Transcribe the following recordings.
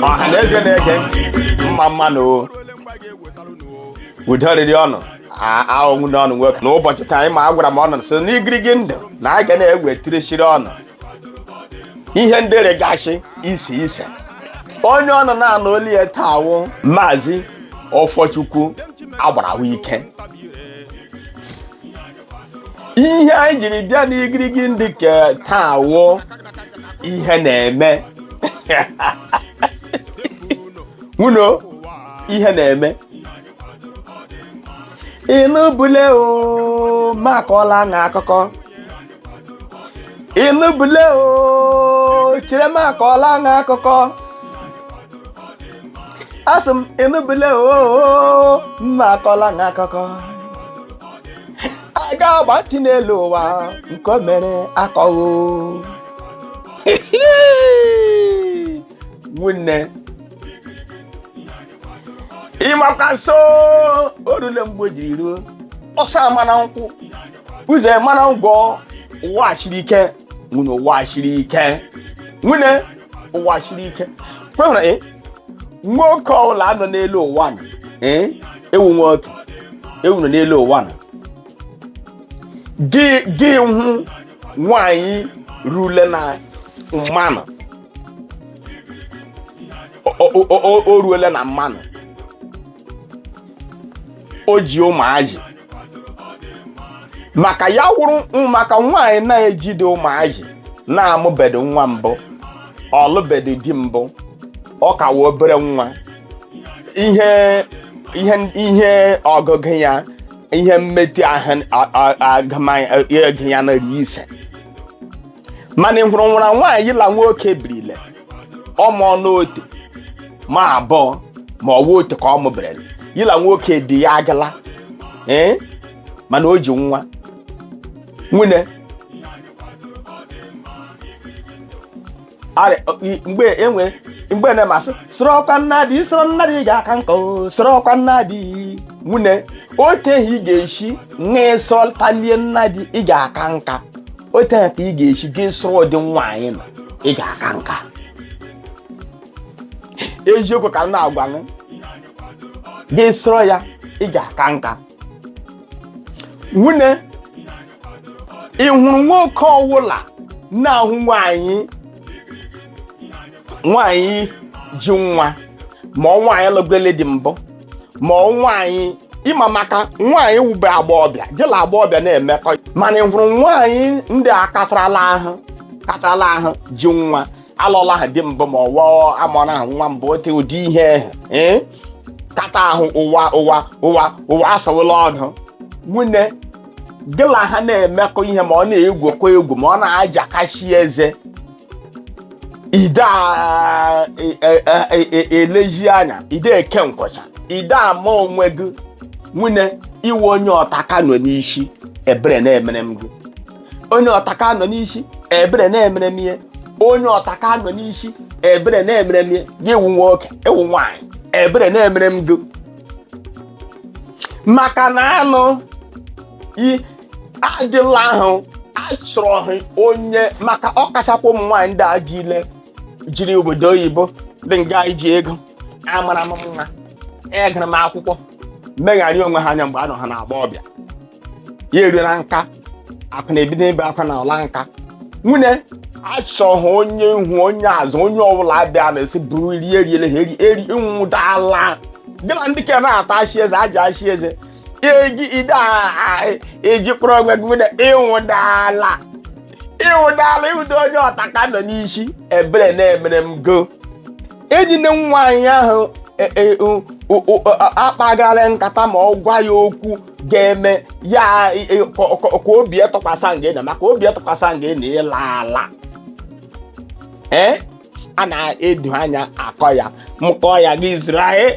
ọhaneze na-ege mma mma nụ o udo rịrị ọnụ ọ wụ nwunne ọnụ nwoke n'ụbọchị taa ị ma a gwara m ọnụ sị n'igirigi ndụ na a ga na-ewetirechiri ọnụ ihe ndị rịgasị ise ise onye ọnụ na-anụ olu ya taa wụ maazị ọfọchukwu agbara ahụ ike ihe anyị jiri bịa n'igirigi ndụ ke taa wụ ihe na-eme nwunne ihe na-eme ị nụbule o ma akọọla na akụkọ ị nụbule o chere ma akọọla na akụkọ asị m ị nụbule o ma akọọla na akụkọ a ga-agba ntị n'elu ụwa nke o mere akọghị nwunne ị makwa nso o rule mgbe o jiri ruo ọsa ama na nkwụ uze ama na ngwọ ụwa siri ike nwunne ụwa siri ike nwunne ụwa siri ike kwehụrụ nwoke ọbụla nọ n'elu ụwa nọ, ee, nwoke ọwụla nọ n'elu ụwa nọ. gị gị hụ nwanyị rule na mmanụ O- o- o- o- o ruole na mmanụ o ji ụmụazị maka ya wụrụ maka nwaanyị na-ejide ụmụazị na-amụbedo nwa mbụ ọ lụbedo di mbụ ọ ka wụ obere nwa ihe ihe ihe ọgụgụ ya ihe mmetụ ahụ agụmagụ ya na ise mana ị hụrụ nwụra nwaanyị ya la nwoke birile ọ mụọnụ otu ma abụọ ma ọ wụ otu ka ọ mụberele ya la nwoke di ya agala ee mana o ji nwa nwunne arị- ọ- i- mgbe enwe mgbe na-asị sọrọkwa nnadi sọrọ nnadi ị ga-aka nka o, sọrọkwa nnadi nwunne otu ahị ị ga-esi wee sọtalie nnadi ị ga-aka nka otu a ka ị ga-esi gị sọrọ ụdị nwaanyị nọ ị ga-aka nka eziokwu ka m na-agwa gị gị sọrọ ya ị ga-aka nka nwunne ị hụrụ nwoke ọwụla na-ahụ nwaanyị nwaanyị ji nwa ma ọ nwaanyị lụgole di mbụ ma ọ nwaanyị ịma maka nwaanyị wube agbọọbịa gị na agbọọbịa na-emekọ mana ị hụrụ nwaanyị ndị a katarala ahụ katarala ahụ ji nwa alụla ha di mbụ ma ọ wụ amụrụ ha nwa mbụ ote ụdị ihe ahụ ee kata ahụ ụwa ụwa ụwa ụwa asawụla ọnụ nwunye gị la ha na-emekọ ihe ma ọ na-egwukọ egwu ma ọ na-ajakasị eze i de a- e- e- e- e- elezi anya i de eke nkwụcha i de ama onwe gị nwunye iwe onye ọtaka nọ n'isi ebere na-emere m gị onye ọtaka nọ n'isi ebere na-emere m ihe onye ọtaka nọ n'isi ebere na-emere m ihe gị wụ nwoke ị wụ nwaanyị ebere na-emere m gị maka na anụ i- adịla ahụ achọrọghị onye maka ọkachakwa ụmụ nwaanyị ndị a dị ile jiri obodo oyibo dị nga anyị ji ego amara m mma agara m akwụkwọ megharị onwe ha anya mgbe anọ ha n'agbọọbịa ya eruola nka akụ na-ebido ebe akwa na ọla nka nwunye achọrọ ha onye ihu onye azụ onye ọbụla bịa na-esi buru rie eriele ha eri eri nwụda ala gị na ndị ka na-ata achị eze aja achị eze eji i de ejikpọrọ onwe gị na ị wụda ala ị wụdala ị wụda onye ọtaka nọ n'isi ebere na-emere m gị eji nne nwaanyị ahụ e- e- o- o- o- a- akpagharị nkata ma ọ gwa ya okwu ga-eme ya e- e- ka ka- ka obi atụkwasị nga ị nọ maka obi atụkwasị nga ị nọ ị laala ee a na-edo anya akọ ya mkpọ ya gị zụrụ anyị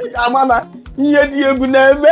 Ị ga-ama na ihe dị egwu na-eme